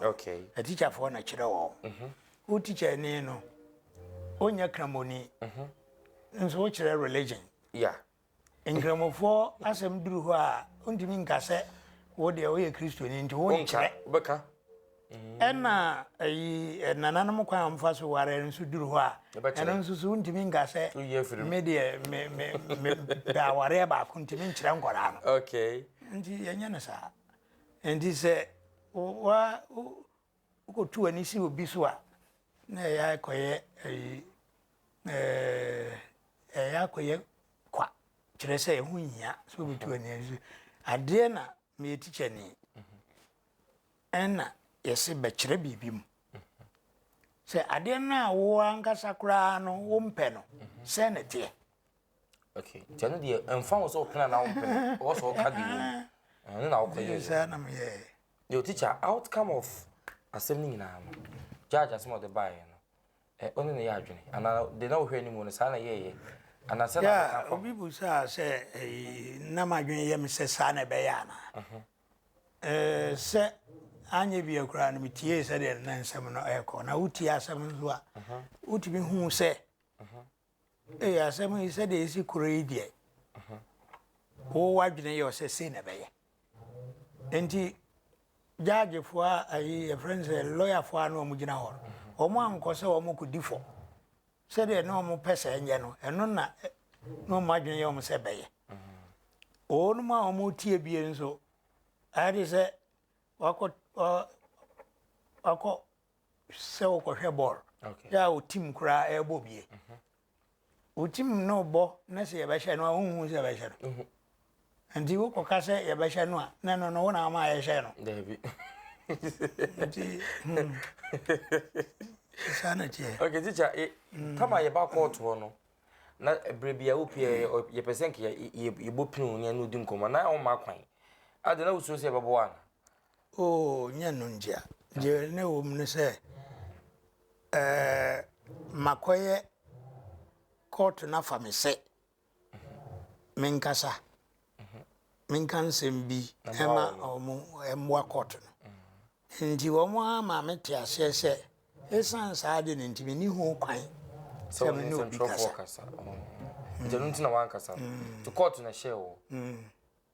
atikyafoɔ na kyerɛ wɔ mhm. wo tikyani no ɔnyɛ kramoni nso wokyerɛ religion Nkramofoɔ asɛm duru hɔ a, wontumi nka sɛ wo deɛ woyɛ Kristoni nti wo nkyerɛ. Wobɛka. Ɛna ayi nananom kwan a wɔfa so ware nso duru hɔ a, ɛno nso so wontumi nka sɛ me deɛ me me me da awareɛ baako ntumi nkyerɛ nkwadaa no. Okay. Nti yɛnyɛ no saa. Nti sɛ wa Wokotu w'ani si obi so a, na ɛyɛ ara kɔyɛ ɛyi ɛɛ ɛyɛ ara kɔyɛ kwa kyerɛ sɛ ɛho nhia sɛ wobetu w'ani asi so. Adeɛ na meyɛ tikyani ɛna yɛse bɛkyerɛ biribi mu sɛ adeɛ no a wo ankasa koraa no wompɛ no sɛn na ɛteɛ. okay nti ɛno deɛ ɛmfa ho sɛ wopene anaa wompene ɔwɔ sɛ ɔka deɛ wom ɛno na wokɔ yɛ saa na meyɛ yo teacher outcome of asɛm no nyinaa no judge asɛm ɔde baeɛ no ɛ ɔne ne yɛ adwene anaa de na wohwɛ anim no saa na yɛyɛ anaa sɛ na bɛka kɔ obi bu saa sɛ na madwene yɛ me sɛ saa na ɛbɛyɛ anaa sɛ anyɛ bia koraa no metiee sɛdeɛ na nsɛm no ɛkɔ na wotie asɛm nso a wotumi hu sɛ Ee, asɛm yi sɛdeɛ ɛsi korɛ yi deɛ, wo w'adwene yɛ wo sɛ sei na ɛbɛyɛ. Enti gyaagyefoɔ a ayi yɛfrɛ no sɛ lɔyafoɔ a na wɔgyina hɔ no, wɔn ankɔ sɛ wɔn kɔdi fɔ sɛdeɛ na wɔn pɛ sɛ ɛnyɛ no, ɛno na na wɔn adwene yɛ wɔn sɛ ɛbɛyɛ. Wɔnom a wɔn tie bie nso, ayɛ de sɛ wakɔ wakɔ sɛ wokɔhwɛ bɔɔl yɛ a wo tim koraa ɛrebɔ bie mhm. wo tim no bɔ na sɛ yɛbɛhyɛ no a wonhu sɛ yɛbɛhyɛ no mhm. nti wokɔka sɛ yɛbɛhyɛ no a na ɛno no wo na ama yɛhyɛ no nti hmm. saa na teɛ okay teacher eh, hmm. tama yɛba kɔɔtoɔ no na berɛ bi a wopiɛ yɛpɛ sɛ nka yɛbɔ pin wo ne ɛno di nkɔmmɔ na woma kwan ade na wosuo sɛ yɛbɛboa no Oo, nyɛ no ngyea. Dza nna ɔwɔ mu nye sɛ, makɔyɛ kɔɔto no afa me sɛ menkasa, menka nsɛm bi ma wɔmboa kɔɔto no. Ntsi wɔara maa metsee aseɛ sɛ, esian saa adze no ntsi, minnyi ho kwan sɛ menye obi kasa.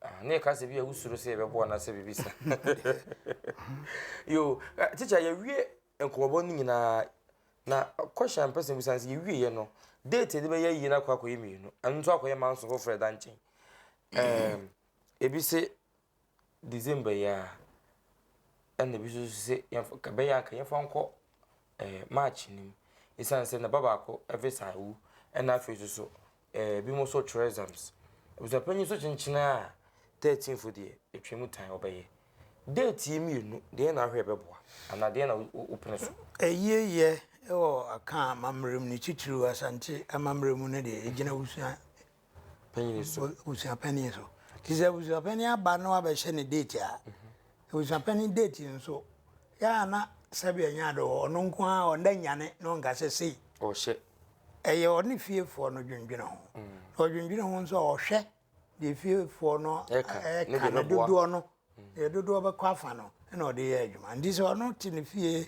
Ah, ne ka se bi a wusuro se ebe bo anase bibi sa. Yo, eh, teacher ye wie nkobobo ni nyina na question person bu sanse ye wie ye no. Date de be ye yi na kwa koye mienu. Anu to akoye manso ho fre da nchen. Eh, ebi se December ya. Ene bi so se ye ka be ya ka ye fa nko eh March nim. Isanse na baba ko evisa wu. Ena fe so so Ebinom nso twerɛ exams. Abusuapanyin nso kyenkyenɛ a, thirteenth deɛ, ɛtwa mu tan, ɔbɛyɛ. Date yi mmienu, deɛn na wohwɛ ɛbɛboa? Anaa deɛn na wopene so? Ayieyɛ wɔ Akaa amammerɛ mu no, titiriw Asante amammerɛ mu no deɛ, ɛgyina abusua panyin so. Abusua panyin so. Nti sɛ abusua panyin aba na wabɛhyɛ ne date a, abusua panyin date nso, yɛ a na sɛbi ɛnyɛ ade wɔ hɔ. Ɔno nko ara, ɔnda nyane na ɔnka sɛ sei. Ɔhyɛ. ɛyɛ ɔne fiefoɔ no dwendwene ho na ɔdwendwene ho nso a ɔhwɛ deɛ fiefoɔ no ɛka no dodoɔ no deɛ dodoɔ bɛkɔ afa no na ɔde yɛ adwuma nti sɛ ɔno te ne fie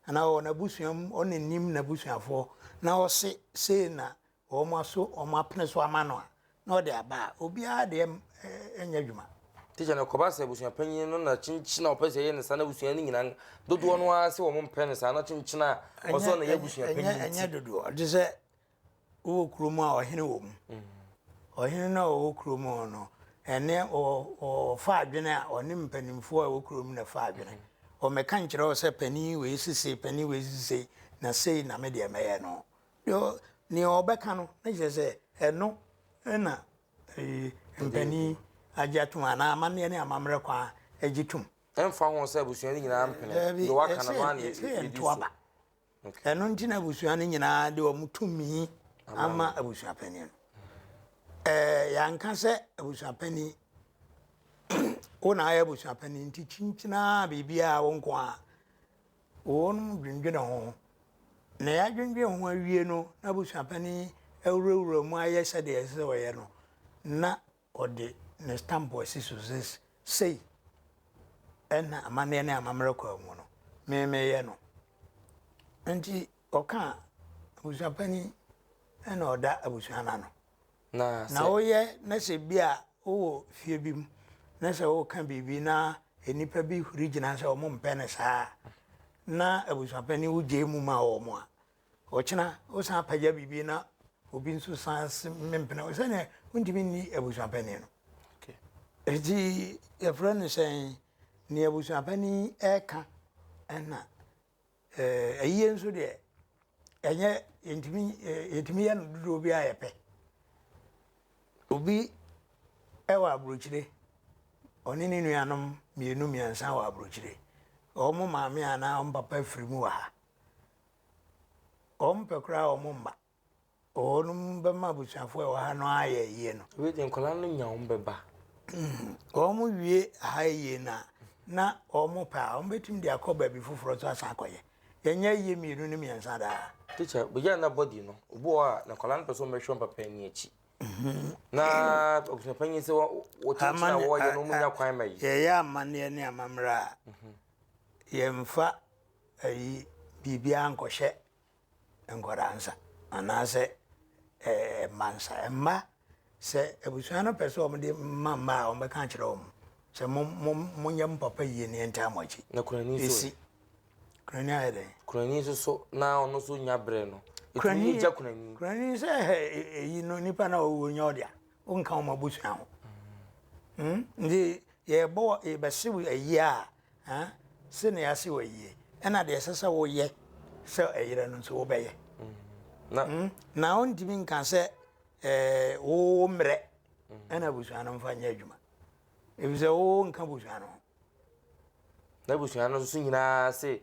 anaa ɔwɔ n'abusua mu ɔne nim n'abusuafoɔ na ɔse sei na wɔn aso wɔn apene so ama no a na ɔde aba a, obiara de nyɛ adwuma. Tikya no kɔba sɛ abusuapanyin no na kyenkyen a ɔpɛ sɛ ɛyɛ ne saa na abusua no nyinaa dodoɔ no ara sɛ wɔn mpɛ no saa na kyenkyen a ɔsɔ na ɛyɛ abusuapanyin ti. Ɛnyɛ dodoɔ ɔte sɛ wowɔ kuro mu a ɔhene wɔ mu mm. ɔhene no a ɔwɔ kuro mu no ɛne ɔfa adwene a ɔne mpanimfoɔ a ɛwɔ kuro mu na ɛfa adwene mm. ɔmɛka nkyerɛ wo sɛ panin wei sesei panin wei sesei na sei na medeɛ mɛyɛ no Nea ɔbɛka no, na kyerɛ sɛ ɛno na mpanin agye atom anaa amanneɛ ne amammerɛ kwan agye tom. Ɛmfa ho sɛ abusua no nyinaa mpene deɛ waka no, ɛno ara na ɛdi so. Ɛno nti na abusua no nyinaa de wɔn tumi ama abusuapanin no. Yɛanka sɛ abusuapanin wo na ayɛ abusuapanin nti kyinkyinaa biribiara wo nko ara. Wɔnom dwendwene ho. Na yɛadwendwene ho awie no, na abusuapanin awurawura mu ayɛ sɛdeɛ ɛsɛ sɛ ɔyɛ no, na ɔde ne stamp asi so sɛ sei ɛna amanneɛ ne amammerɛ kɔ mu no, me meyɛ no. Nti ɔka abusuapanin na ɔda abusua no ano. Na sɛ. Na woyɛ na sɛ bi a wowɔ fie bi mu na sɛ woka biribi na nnipa bi huri gyina sɛ wɔn mpɛ no saa na abusuapanin wo gyae mu ma wɔn a, ɔkyena wosan apagya biribi na obi nso san mempene wo sɛdeɛ wontumi nni abusuapanin no. Ɛti yɛfrɛ no sɛn nea abusuapanin ɛka ɛna Eh, ayie nso deɛ ɛnyɛ yɛntumi eh, yɛtumi yɛ no dodoɔ bi a yɛpɛ obi ɛwɔ aburokyire ɔne ne nuanom mmienu mmiɛnsa wɔ aburokyire wɔn maame anaa wɔn papa firi mu wɔ ha wɔn pɛ koraa wɔn mma Wɔnom bɛma abusuafoɔ a ɛwɔ ha no ayɛ yie no. Wei deɛ nkwadaa no nya wɔn bɛba. Wɔn wie ha yie no a, na wɔn pɛ a, wɔn bɛtumi de akɔ baabi foforɔ nso asan akɔyɛ. Yɛnyɛ yie mmienu ne mmiɛnsa daa. Tikya, bɛgya na bɔdi no, obi wɔ hɔ a, na nkwadaa no pɛ sɛ wɔn bɛhwɛ wɔn papa ani akyi. Na abusua panyin sɛ wɔkyekyere a wɔyɛ no, wɔn nya kwan ma yi. Yɛyɛ amanneɛ ne amammerɛ a, yɛmfa ayi biribiara nkɔhyɛ. nkwadaa nsa anaasɛ ɛɛ mma nsa. Mma sɛ abusua no pɛ sɛ wɔde ma mma a wɔbɛka akyerɛ wɔn sɛ mo mo monyɛ mo papa yie ne yɛntaa mo akyi. Na kurani so. Esi kurani ayɛ dɛ. Kurani nso so na ɔno nso nya brɛ no. Kurani yɛ gya kurani. Kurani sɛ ɛhɛ e, e, eyi no nipa na ɔwɔ nya ɔde a ɔnka wɔn abusua ho. Hmm? Nti yɛbɔ yɛbɛsew ayie a Ɛ? Se nea ase wɔ yie, ɛna deɛ ɛsɛ sɛ woyɛ sɛ ɛyerɛ no nso wobɛyɛ. Mm, na ɔntumi nka sɛ ɛɛ wo mmerɛ ɛna abusua no mfa nyɛ adwuma. Efisɛ wo nka abusua no ho. Na abusua no nso nyinaa se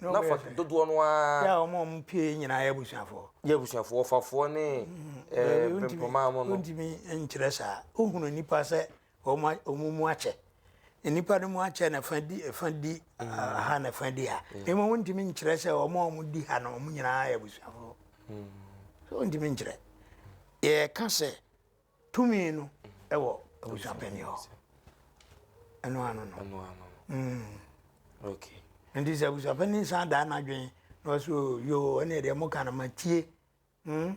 Na fa dodoɔ no ara. Yɛ a wɔn a wɔpue yi nyinaa yɛ abusuafoɔ. Yɛ abusuafoɔ, ɔfafoɔ ne mm-hmm. mpempoma mu no. Wontumi nkyerɛ saa. Wohunu nnipa sɛ wɔn mu akyɛ. Nnipa no mu akyɛ na fa di fa di mm-hmm. ha na fa di ha. Mm-hmm. Mmom wontumi nkyerɛ sɛ wɔn a wɔdi ha no wɔn nyinaa yɛ abusuafoɔ. So wontumi nkyerɛ. Yɛka sɛ Tumi no wɔ abusuapanin hɔ. Ɛno ano no. Ɛno ano. Mm. Okay. Nti sɛ abusuapanin san daa n'adwene na ɔsɛ o yoo ɛne deɛ mo ka no ma tie. Mm.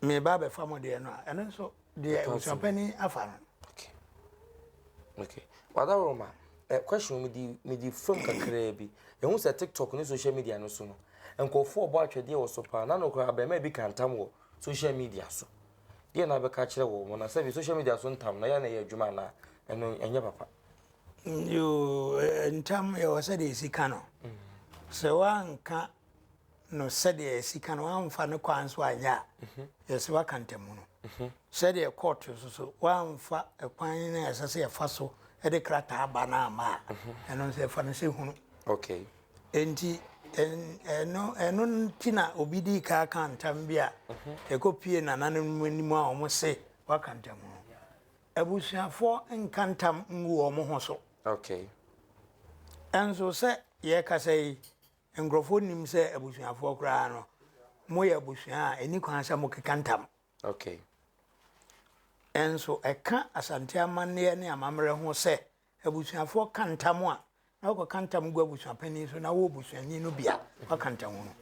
Me ba bɛfa mo deɛ no a ɛno nso deɛ abusuapanin afa no. Okay. Okay. Wadaworo ma eh, question mi di mi di fam kakraa bi. Ehu sɛ TikTok ne social media no so no. Nkɔfoɔ bɔ atwɛdeɛ wɔ so paa. Na no kora abɛɛma bi kantam wɔ social media so. deɛ na abɛka akyerɛ wɔ wɔn na sɛbi social media so ntam na yɛ na ɛyɛ adwuma anaa ɛno ɛnyɛ papa. yoo eh, ntam yɛwɔ sɛdeɛ ɛsi ka no sɛ woanka no sɛdeɛ ɛsi ka no woamfa no kwan so anyɛ a mhm. yɛsɛ woaka ntamu no mhm. sɛdeɛ court so so woamfa kwan no a ɛsɛ sɛ yɛfa so de krataa ba no ama a mhm. ɛno nso yɛfa no sɛ hunu okay. Enti, ɛno, ɛno nti na obi di kan aka ntam bi a ɛkɔpie nananom anim a wɔse waka ntam no. Abusuafoɔ nka ntam ngu wɔn ho so. Okay. Nso sɛ yɛkasa yi, nkurɔfoɔ nim sɛ abusuafoɔ koraa no, moyɛ abusua a ɛni kwan sɛ mokeka ntam. Okay. Nso ɛka Asante amanneɛ ne amammerɛ ho sɛ Abusuafoɔ ka ntam a, na wɔkɔka ntam gu abusuapanin so na wo busuani no bia waka ntamu no.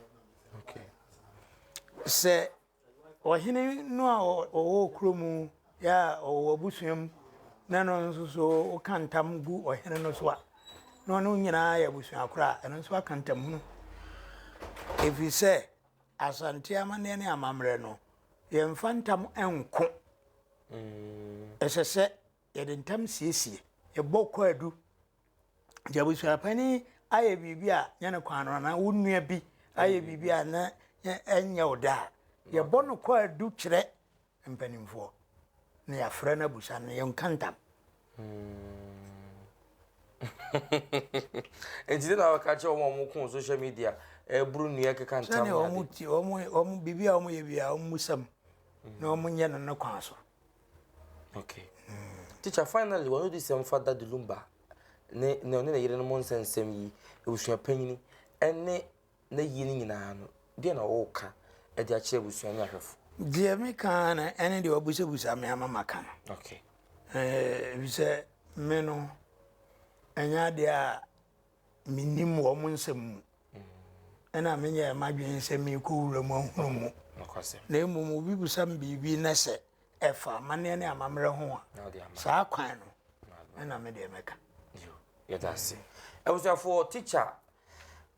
Sɛ ɔhene no a ɔwɔ kuro mu yɛ a ɔwɔ abusua mu na no nso so woka ntam gu ɔhene no so a, na ɔno nyinaa yɛ abusua koro a, ɛno nso aka ntamhunu. Ɛfiri sɛ Asante amanneɛ ne amammerɛ no, yɛmfa ntam nko. Mm. Ɛsɛ sɛ Yɛde ntɛm siesie. Yɛbɔ kwaadu. Nti abusuapanin ayɛ biribi a nyɛ ne kwan no anaa wo nua bi ayɛ biribi a na ɛnyɛ wo dɛ a, yɛbɔ no kwaadu kyerɛ mpanimfoɔ na yɛafrɛ no abusa no, yɛnka ntam. Nti dɛ na wɔka kyerɛ wɔn a wɔko social media ɛboro nnua keka ntam ne ade. Sɛdeɛ wɔn ti wɔn wɔn biribi a wɔyɛ bi a wɔn musam na wɔn nyɛ no ne kwan so. Okay. Mm. Teacher, finally, one of these um, Father Dilumba, ne ne ne yere no mo nsɛnsɛm yi, ebusua panyin, ɛne ne yie no nyinaa no, deɛ na ɔɔka ɛde akyerɛ ebusua ne ahwɛfo. Deɛ mi ka na ɛne deɛ ɔbusabusa mi ama ma ka no. Okay. Ɛɛ eh, bisɛ mi no, ɛnyɛ adeɛ a mennim wɔn nsɛm mu, ɛna menyɛɛ m'adwene sɛ merekɔ wuram ahunu mu. Na mmom obi bisa me biribi na sɛ ɛfa amanneɛ ne amammerɛ ho a, saa kwan no ɛna me deɛ mɛka. yɛda ase abusuafoɔ tikya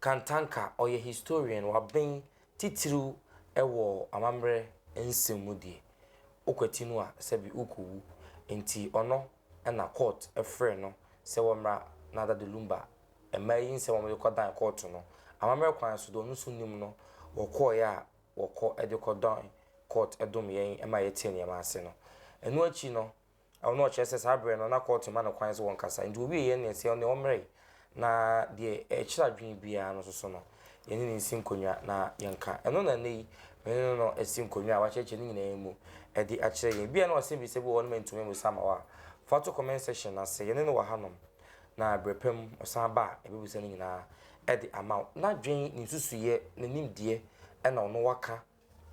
kantanka ɔyɛ historian waben titiriw ɛwɔ amammerɛ nsɛm mu deɛ wokwati no a sɛbi wokɔwu nti ɔno na kɔɔt frɛɛ no sɛ wɔmmra Nada de Lumba mmaa yi nsɛm a wɔde kɔdan kɔɔto no. Amammerɛ kwan so, deɛ ɔno nso nim no, wɔkɔeɛ a wɔkɔ de kɔdan kɔɔt dom yɛn ma yɛtee nneɛma ase no. Ɛno akyi no, ɔno ɔkyerɛ sɛ saa berɛ no na kɔɔt mma no kwan sɛ ɔnkasa, enti wɔwiee yɛn nne sɛ ɔno deɛ ɔmmrɛe Na deɛ ɛkyere adwene biara no soso no, yɛne no nsi nkonnwa na yɛnka. Ɛno na nnɛ yi, me ne no asi nkonnwa a wakyerɛkyerɛ no nyinaa mu de akyerɛ yɛn. Ebia na ɔsɛmmisa bi wɔ hɔ no mantumi ammisa ama wo a, fa to comment section no ase. Yɛne no wɔ hanom, na berɛ pa mu ɔsan ba a, yɛbɛbisa no nyinaa de ama wo. N'adwene, ne nsusuiɛ, ne nimdeɛ na ɔno waka.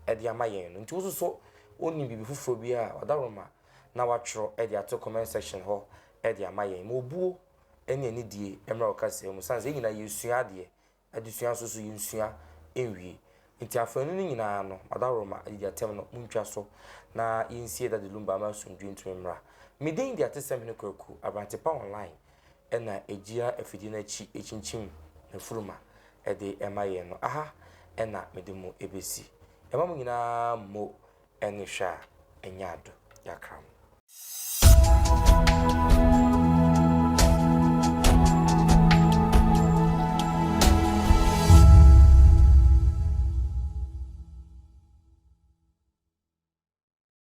de ama yɛn no nti wo nso so wonim biribi foforɔ bi a ɔdawroma na watwerɛ de ato comment section hɔ de ama yɛn ma obuo ne anidie mmra wo kasaa mu sane sɛ yɛn nyinaa yɛresua adeɛ adesua nso so yɛnsua nwie nti afaanu no nyinaa no ɔdawroma adidi atɛm no montwa so na yɛnsie Daddy Lumba ma asomdwie ntumi mmra me din de atesɛm hene kwaku abrante pa online na egyina afidie no akyi kyinkyim n'afurum ma ɛde ɛma yɛn no, aha na mede mo besi. Ɛma mo nyinaa mmo ne hwɛ a ɛnyɛ ado. Yɛakra mo.